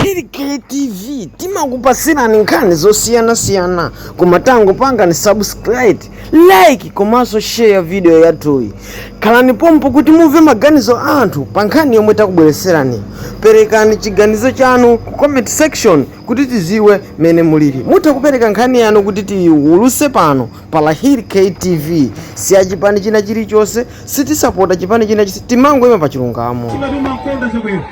lahir ktv timakupasirani nkhani zosiyanasiyana koma tangopangani subscribe like komanso share video yathuyi khalani pompo kuti mumve maganizo a anthu pa nkhani yomwe takubweretserani perekani chiganizo chanu ku comment section kuti tiziwe mene mulili mutha kupereka nkhani yanu kuti tiyiwuluse pano pa lahir ktv si achipani china chilichonse sitisapota chipani china chilichonse timangoyima pa chilungamo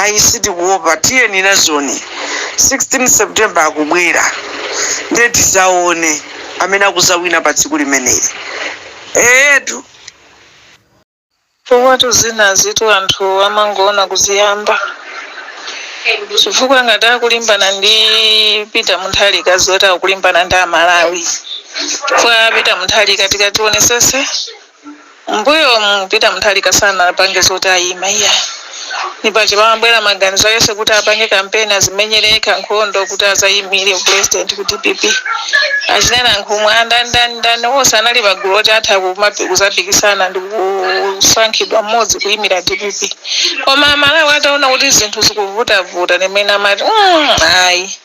ayi sitikuopa tiyeni nazoni 16 September akubwera ndiye tizaone amene akuzawina pa tsiku limeneli eetu. Chifukwatu zinazitu anthu amangoona kuziyamba. Chifukwa ngati akulimbana ndi Peter Mutharika adziwe kuti akulimbana ndi a Malawi. Chifukwa Peter Mutharika tikati tionesese Mmbuyomu Peter Mutharika sanapange zoti ayima iyayi ndi paja panabwera maganizo aliyense kuti apange kampeni azimenyere yekha nkhondo kuti azayimire upulezidenti ku dpp. Achina Nankhumwa, andani ndani ndani onse anali pagulu loti atha kuzapikisana ndikusankhidwa mmodzi kuyimira dpp koma amalawi ataona kuti zinthu zikuvutavuta ndipamene amati mm ayi.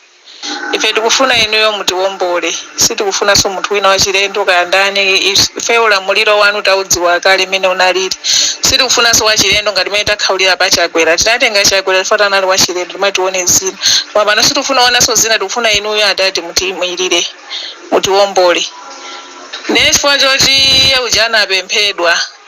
Ife tikufuna Inuyo mutiwombole. Sitikufunanso munthu wina wachilendo, kaya ndani. Ife ulamuliro Wanu taudziwa kale mmene unaliri. Sitikufunanso wachilendo ngati mmene takhaulira pa Chakwera. Tinatenga Chakwera chifukwa anali wachilendo, timati tione zina. Koma pano sitikufuna kuonanso zina, tikufuna Inuyo Atate mutiimirire, mutiwombole. Ndiye chifukwa choti Iye uja anapemphedwa.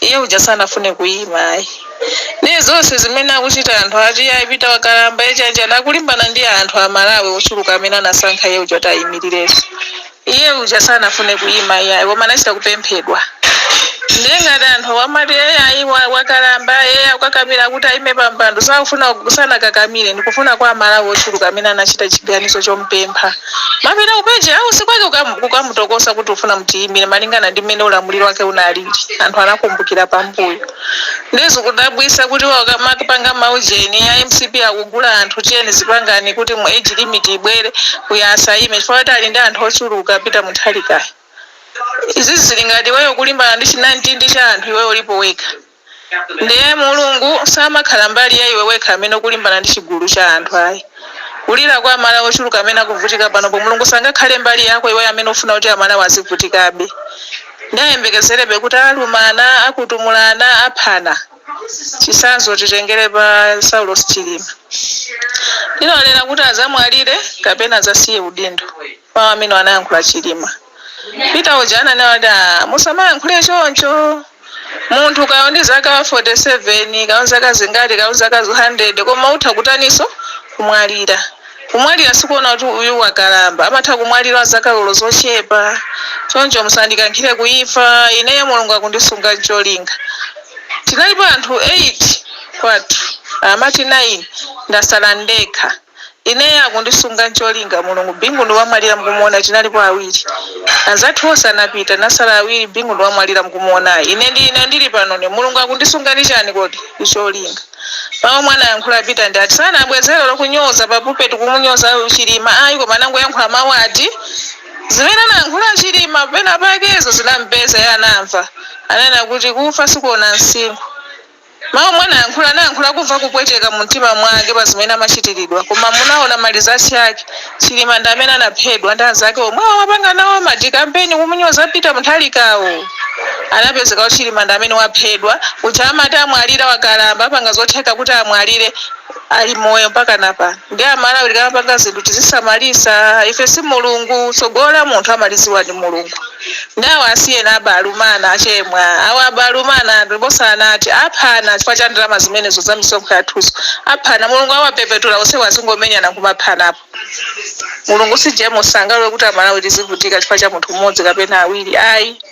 Iye uja sanafune kuyima ayi. Ndiye zonse zimene akuchita anthu ati Peter wakalamba, chanichani akulimbana ndi anthu a Malawi ochuluka amene anasankha iye uja kuti ayimilirenso. Iye uja sanafune kuyima iyayi koma anachita kupemphedwa. Ndiye ngati anthu wa amati iyayi wakalamba ee akukakamira kuti ayime pa mpando sakufuna kusiya sanakakamire ndikufuna kwa a Malawi ochuluka amene anachita chiganizo chomupempha. Amapita ku page house kwake kukam kukamutokosa kuti tikufuna mtiyimile malingana ndi mmene ulamuliro wake unalili anthu anakumbukira pambuyo nde zikudabwisa kuti iwowa akumapanga ma ujeni a mcp akugula anthu tiyeni zipangani kuti mu age limit ibwere uyu asayime chifukwa choti ali ndi anthu ochuluka peter mutharikayo izizi zili ngati iweyo ukulimbana ndi chinamtindi cha anthu iweyo ulipo wekha. Ndiye, Mulungu samakhala mbali ya iwe wekha amene ukulimbana ndi chigulu cha anthu. Ayi. Kulira kwa amalawi ochuluka amene akuvutika panopo, Mulungu sangakhale mbali yako iweyo amene ukufuna kuti amalawi azivutikabe ndi ayembekezerebe kuti alumana, akutumulana, aphana. Chitsanzo titengere pa Saulos Chilima. Ankanenera kuti adzamwalire kapena adzasiye udindo? Mau amenewa anayankhula Chilima. Peter uja ananena kuti aah musamayankhule choncho. Munthu kaya uli ndi zaka 47, kaya uli ndi zaka zingati, kaya uli zaka 100 koma utha kutaninso? Kumwalira. Kumwalira sikuona kuti uyu wakalamba. Amatha kumwalira wa zaka olo zochepa. Choncho musandikankhire ku imfa. Ineyo Mulungu akundisunga ndi cholinga. Tinalipo anthu 8 kwathu. Amati 9, ndasala ndekha. Ineyo akundisunga ncholinga mulungu Bingu ndi wamwalira mukumuona tinalipo awiri Anzathu onse anapita tinasala awiri Bingu ndi wamwalira mukumuonayu Ine ndi ine ndili panone mulungu akundisunga ndi chani kodi Ndi cholinga Mawu omwe anayankhula Peter ndi ati sanabwezere olo kunyoza pa pulpit kumunyoza chilima ayi koma anangoyankhula mawu ati Zimene anayankhula chilima pena pakezo zinampeza iye anamva Ananena kuti kufa sikuona msinkhu Mawu omwe anayankhula, anayankhula akumva kupweteka mu mtima mwake pa zimene amachitilidwa koma munaona ma results ake, Chilima ndi amene anaphedwa ndi anzake omwewo amapanga nawo ma decampaign kumunyoza Peter Mutharikawo. Anapezeka kuti Chilima ndi amene waphedwa, uja amati amwalira wakalamba apanga zotheka kuti amwalire. Ali moyo mpakana pano nde amalawi tikamapanga zinthu tizisamalisa ife si mulungu tsogolo la munthu amaliziwa ndi mulungu nde awa asiyeni abalumana achemwa awa abalumana ndiposa anati aphana chifukwa cha ndalama zimenezo za misonkho yathuzo aphana mulungu awapepetula onsewo azingomenyana kumaphanapo mulungu si jemus sangalole kuti amalawi tizivutika chifukwa cha munthu mmodzi kapena awiri ayi.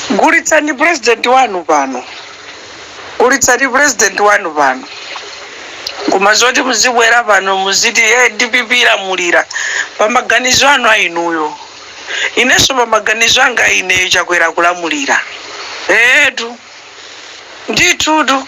Gulitsani president wanu pano. Gulitsani president wanu pano. Koma zoti muzibwera pano muziti ee dpp ilamulira. Pamaganizo anu a inuyo. Inenso pamaganizo anga a ineyo Chakwera akulamulira. Eetu. Ndithutu.